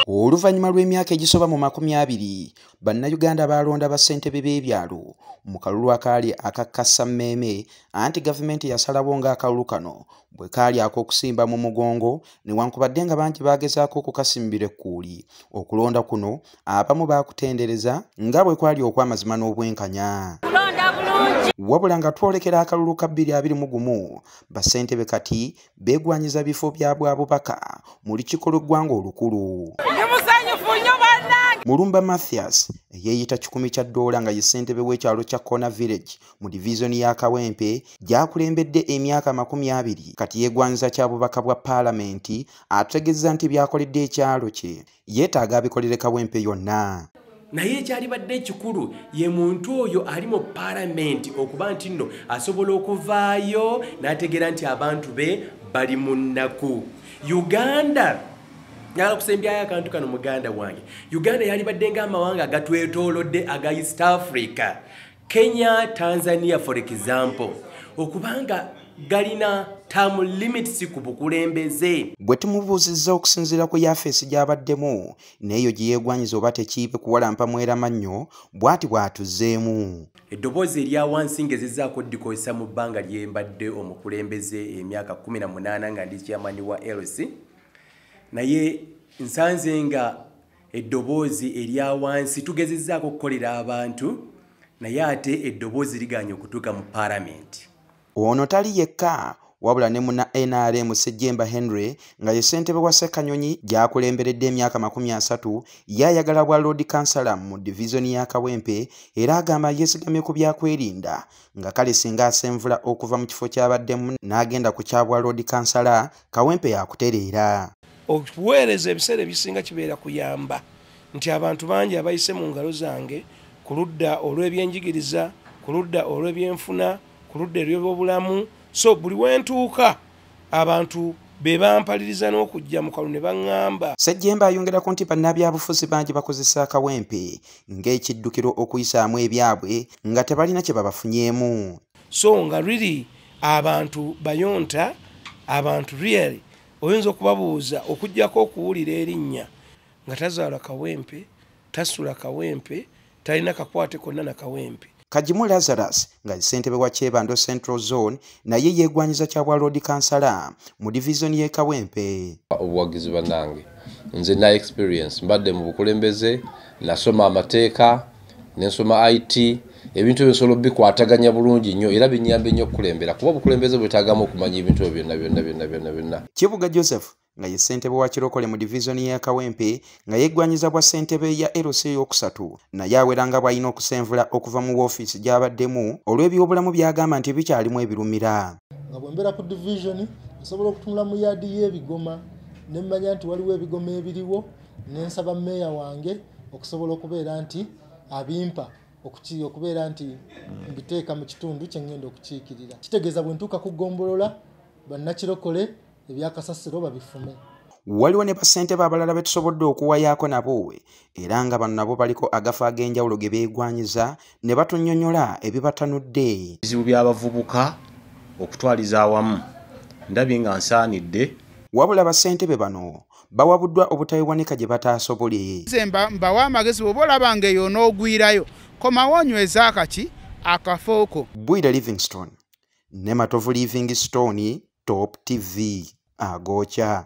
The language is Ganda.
Oluvannyuma lw'emyaka egisoba mu makumi abiri, Bannayuganda baalonda bassentebe b'ebyalo mu kalulu akaali aka kassammeeme anti gavumenti yasalawo ng'akalulu kano bwe kaali ak'okusimba mu mugongo newankubadde nga bangi baagezaako okukasimbira ekkuuli. Okulonda kuno abamu baakutendereza nga bwe kwali okw'amazima n'obwenkanya. wabula nga twolekera akalulu ka 221 bassentebe kati beegwanyiza bifo bya bwa bubaka mu lukiiko lw'eggwanga olukulu mulumba mathias eyeeyita kikumi kya ddoola nga ye ssentebe w'ekyalo kya corner village mu divizoni ya kawempe gyakulembedde emyaka makumi abiri kati yeegwanyiza kya bubaka bwa paalamenti ategezza nti byakoledde ekyalo kye yeetaaga abikoleleka wempe yonna naye ekyalibadde ekikulu ye muntu oyo ali mu palamenti okuba nti nno asobola okuvaayo n'ategeera nti abantu be bali mu nnaku uganda nyala kusembyayo akantu kano muganda wange uganda yalibadde nga amawanga agatwetolodde aga east africa kenya tanzania for example okubanga galina term limits ku bukulembeze gwe tumubuuzizza okusinziira ku yafeesi gy'abaddemu n'eyo gye yeegwanyiza oba tekiibe kuwalampa mweramannyo bw'ati bw'atuzeemu eddoboozi erya wansi ng'ezizaako ddikozesa mu bbanga lye mbadde omukulembeze emyaka 18 nga ndi kyamani wa lc naye nsanze nga eddoboozi erya wansi tugezezzaako okukolera abantu naye ate eddoboozi liganye okutuuka mu paalamenti ono tali yekka wabula ne muna nrm sejjemba henry nga ye ssentebe wa ssekanyonyi gyakulemberedde emyaka makumi asatu ye ayagala bwa lord kansala mu divizoni ya kawempe era agamba yeesigamye ku byakwerinda nga kale singa asenvula okuva mu kifo kyabaddemu n'agenda ku kyabwa lord kansala kawempe yakutereera okuweereza ebiseera ebisinga kibeera kuyamba nti abantu bangi abayise mu ngalo zange ku ludda olw'ebyenjigiriza ku ludda olw'ebyenfuna ku ludda ery'obulamu so buli wentuuka abantu be bampaliriza n'okujja mu kalu ne baŋŋamba ssejjemba ayongerako nti bannabyabufuzi bangi bakozesa akawempe ng'ekiddukiro okuyisaamu ebyabwe nga tebalina kye babafunyeemu so nga riri abantu bayonta abantu really oyinza okubabuuza okujjako okuwulira erinnya nga tazaala kawempe tasula kawempe talina kakwate konna na kawempe kagimu lazarus nga ssentebe wa kyebando central zone naye yeegwanyiza kya bwa loodi kansala mu divizoni y'e kawempe obuwagizi banange nze na experience mbadde mu bukulembeze nasoma amateeka nensoma it ebintu ebyo nsobola obikwataganya bulungi nnyo era binyambe nnyo okukulembera kuba obukulembeze bwetagamu okumanya ebintu ebyo byonna byonna byonna byonna byonna kibuga joseph nga ye ssentebe wa kirokole mu divizoni ya kawempe nga yeggwanyiza bwa ssentebe ya lc ey'okusatu naye awera nga bw'alina okusenvula okuva mu woofiisi gy'abaddemu olw'ebyobulamu by'agamba nti bikyalimu ebirumira nga bwe mbeera ku divizoni nsobola okutunula mu yaadi y'ebigoma ne mmanya nti waliwo ebigoma ebiriwo nensaba meeya wange okusobola okubeera nti abimpa okukiiya okubeera nti mbiteeka mu kitundu kyengenda okukiikirira kitegeeza bwe ntuuka ku ggombolola bannakirokole ebyakasasiro babifume waliwo ne basente baabalala be tusobodde okuwayaako nabo era nga bano nabo baliko agafa ag'enjawulo ge beegwanyiza ne batunyonyola ebibatanudde ebizibu by'abavubuka okutwaliza awamu ndabye nga nsaanidde wabula basentebe bano bawabuddwa obutayiwanika gye bataasobole zemba mbawa amagezi bwoba olaba nga eyo onoogwirayo komawo onyweza akaki akafooko bwire livingstone ne matovu livingstone top tv agokya